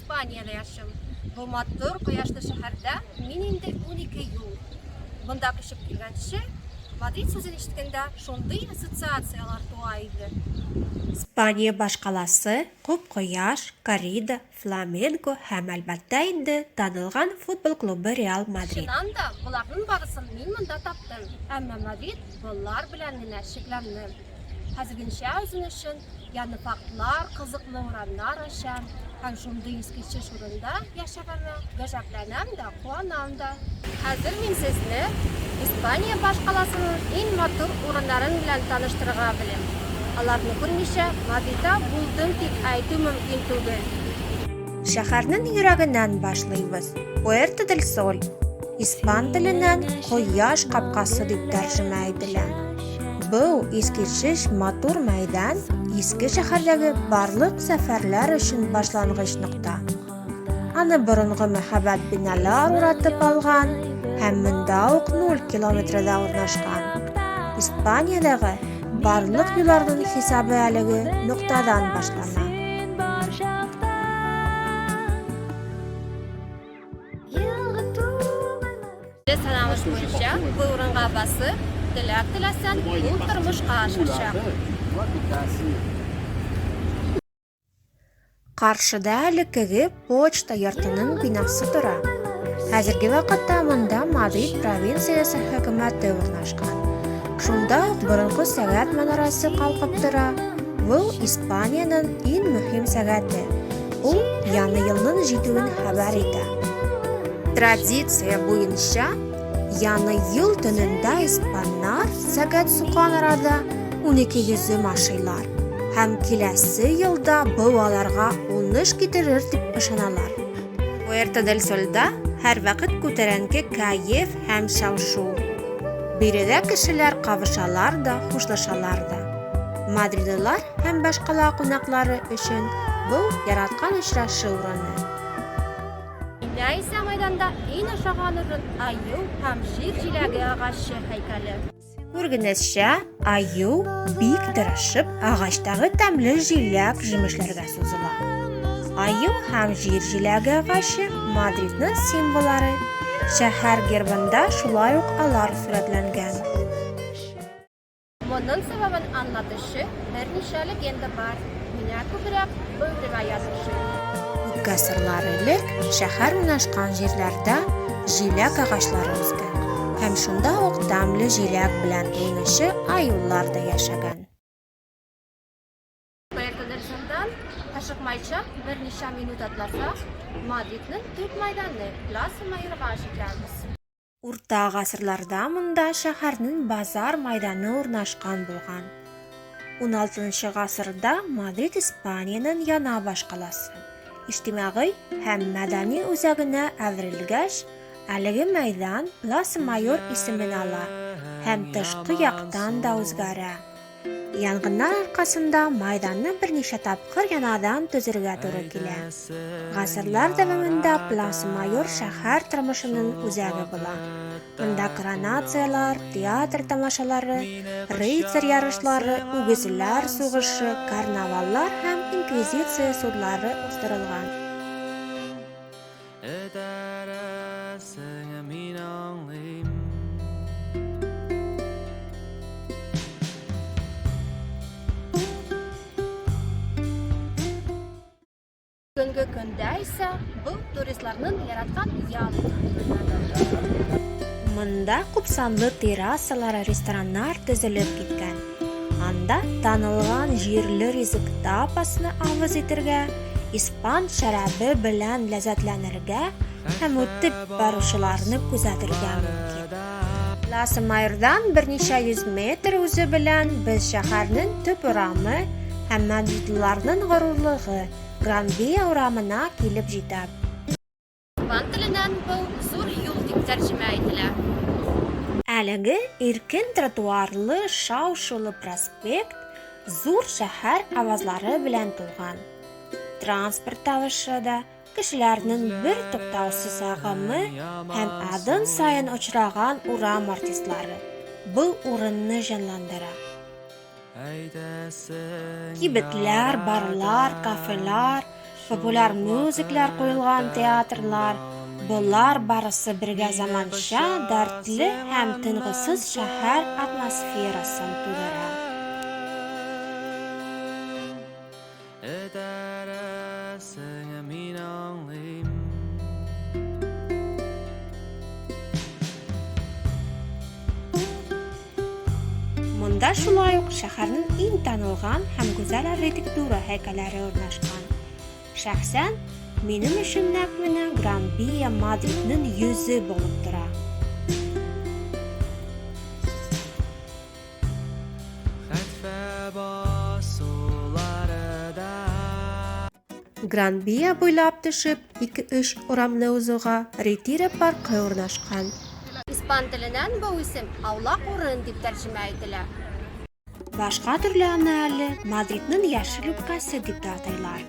Испаниядә яшим. Бу матур кояшлы шәһәрдә мин инде унике ел. Монда күчеп килгәнче, Мадрид сүзен ишеткәндә шундый ассоциацияләр туа иде. Испания башкаласы, күп кояш, коррида, фламенко һәм, әлбәттә инде, танылган футбол клубы Реал Мадрид. Чыннан да, боларның барысын мин монда таптым. Әмма Мадрид болар белән генә чикләнмәм. Хәзергенчә үзем өчен Яны фактлар, кызыклы урамнар ача һәм шундый искиткеч урында яшәгәнемә гаҗәпләнәм дә, куанам да. Хәзер мин сезне Испания башкаласының иң матур урыннарын белән таныштырырга белем. Аларны күрмичә Мадрида булдым дип әйтү мөмкин түгел. Шәһәрнең йөрәгеннән башлыйбыз, Пуэрто-дель-Соль. Испан теленнән кояш капкасы дип тәрҗемә ителә. Бу искечеш матур мәйдан иске шәһәрдәге барлык сәфәрләр өчен башлангыч нокта. Аны борынгы мәһабәт биналар уратып алган һәм монда ук 0 километрда урнашкан. Испаниядәге барлык юлларның хисабы әлеге ноктадан башлана. Санамыз буенча бу урынга басып, теләк теләсәң, ул тормышка ашачак. Каршыда элеккеге почта йортының бинасы тора. Хәзерге вакытта монда Мадрид провинциясе хөкүмәте урнашкан. Шунда ук борынгы сәгать манарасы калкып тора. Бу Испаниянең иң мөһим сәгате. Ул яңа елның җитүен хәбәр итә. Традиция буенча, яңа ел төнендә испаннар сәгать сукан арада 12 йөзем ашыйлар һәм киләсе елда бу аларга уңыш китерер дип ышаналар. Пуэрто дель Сольда һәрвакыт күтәренке кәеф һәм шау-шу. Биредә кешеләр кавышалар да, хушлашалар да. Мадридылар һәм башкала кунаклары өчен бу яраткан очрашу урыны. Инә исә майданда иң ошаган урын аю һәм җир җиләге агачы һәйкәле. Күргенезчә, аю бик тырышып агачтагы тәмле җиләк җимешләргә сузыла. Аю һәм җир җиләге агачы Мадридның символлары. Шәһәр гербында шулай ук алар сурәтләнгән. Моның сәбәбен аңлатучы берничә легенда бар, миңа күбрәк бу риваять ошый. Күпкә сырлар элек шәһәр урнашкан җирләрдә җиләк агачлары үскән һәм шунда ук тәмле җиләк белән уйнучы аюлар да яшәгән. Каякадыр шундан ашыкмайча берничә минут атласа, Мадридның төп мәйданы Пласа Майорга җитәбез. Урта гасырларда монда шәһәрнең базар мәйданы урнашкан булган. 16 гасырда Мадрид Испаниянең яна башкаласы, иҗтимагый һәм мәдәни үзәгенә әверелгәч, әлеге мәйдан Пласа Майор исемен ала һәм тышкы яктан да үзгәрә. Янгыннар аркасында майданны берничә тапкыр янадан төзергә туры килә. Гасырлар дәвамында Плас Майор шәһәр тормышының үзәге була. Монда коронациялар, театр тамашалары, рыцарь ярышлары, үгезләр сугышы, карнаваллар һәм инквизиция судлары уздырылган. Этәрәсең мин аңлыйм Бүгенге көндә исә бу туристларның яраткан ял Монда күпсанлы террасалар, рестораннар төзелеп киткән. Анда танылган җирле ризык тапасны авыз итергә, испан шәрабе белән ләззәтләнергә һәм үтеп баручыларны күзәтергә мөмкин. Пласа Майордан берничә йөз метр узу белән без шәһәрнең төп урамы һәм мадридылыларның горурлыгы, Гран-Вия урамына килеп җитәб. Туган теленнән был зур юл дип тәрҗемә ителә. Әлеге иркен тротуарлы шау-шулы проспект зур шәһәр авазлары белән тулган. Транспорт тавышы да, кешеләрнең бер туктаусыз агымы һәм адым саен очраган урам артистлары был урынны җанландыра. Кибетләр, барлар, кафелар, популяр мюзиклар куелган театрлар, болар барысы бергә заманча, дәртле һәм тынгысыз шәһәр атмосферасын тудыра. Этәрәсеңә мин аңлыйм. Монда шулай ук шәһәрнең иң танылган һәм гүзәл архитектура һәйкәлләре урнашкан. Шәхсән, минем өчен нәкъ менә Гран Бия Мадридның йөзе булып тора. Гранбия буйлап төшеп, ике-өч урамны узуга, Ретиро паркы урнашкан. Испан теленнән бу исем аулак урын дип тәрҗемә ителә. Башка төрле аны әле Мадридның яшел үпкәсе дип тә атыйлар.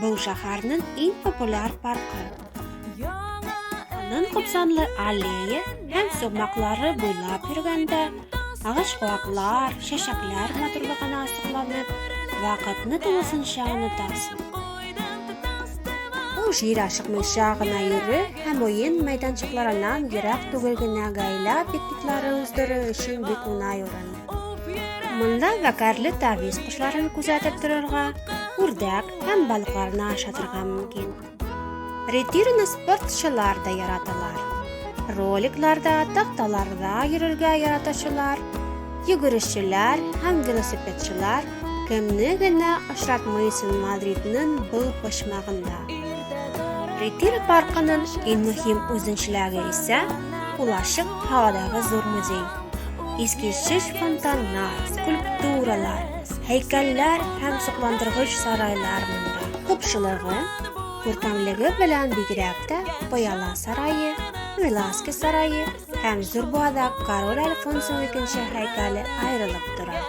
Бу шәһәрнең иң популяр паркы. Аның купсанлы аллея һәм сумаклары буйлап йөргәндә, агач куаклар, чәчәкләр матурлыгына асыкланып, вакытны тулысынча онытасың. Бу җир ашыкмыйча гына йөрү һәм уен мәйданчыкларыннан ерак түгел генә гаилә пикниклары уздыру өчен бик уңай урын. Монда вәкәрле тавис кошларын күзәтеп торырга, үрдәк һәм балыкларны ашатырга мөмкин. Ретирны спортчылар да яраталар. Роликларда, такталарда йөрергә яратучылар, йөгерешчеләр һәм велосипедчылар кемне генә очратмыйсын Мадридның был почмагында. Ретир паркының иң мөһим үзенчәлеге исә улашык һавадагы зур музей. Искиткеч фонтаннар, скульптуралар, һәйкәлләр һәм сокландыргыч сарайлар монда. Купшылыгы, күркәмлеге белән бигрәк тә Пыяла сарае, Веласкес сарае һәм зур буада король Альфонсо икенче һәйкәле аерылып тора.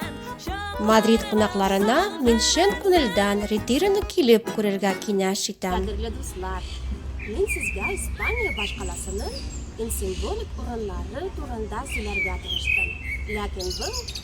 Мадрид кунакларына мин чын күңелдән Ретироны килеп күрергә киңәш итәм. Кадерле дуслар, мин сезгә Испания башкаласының иң символик урыннары турында сөйләргә тырыштым, ләкин был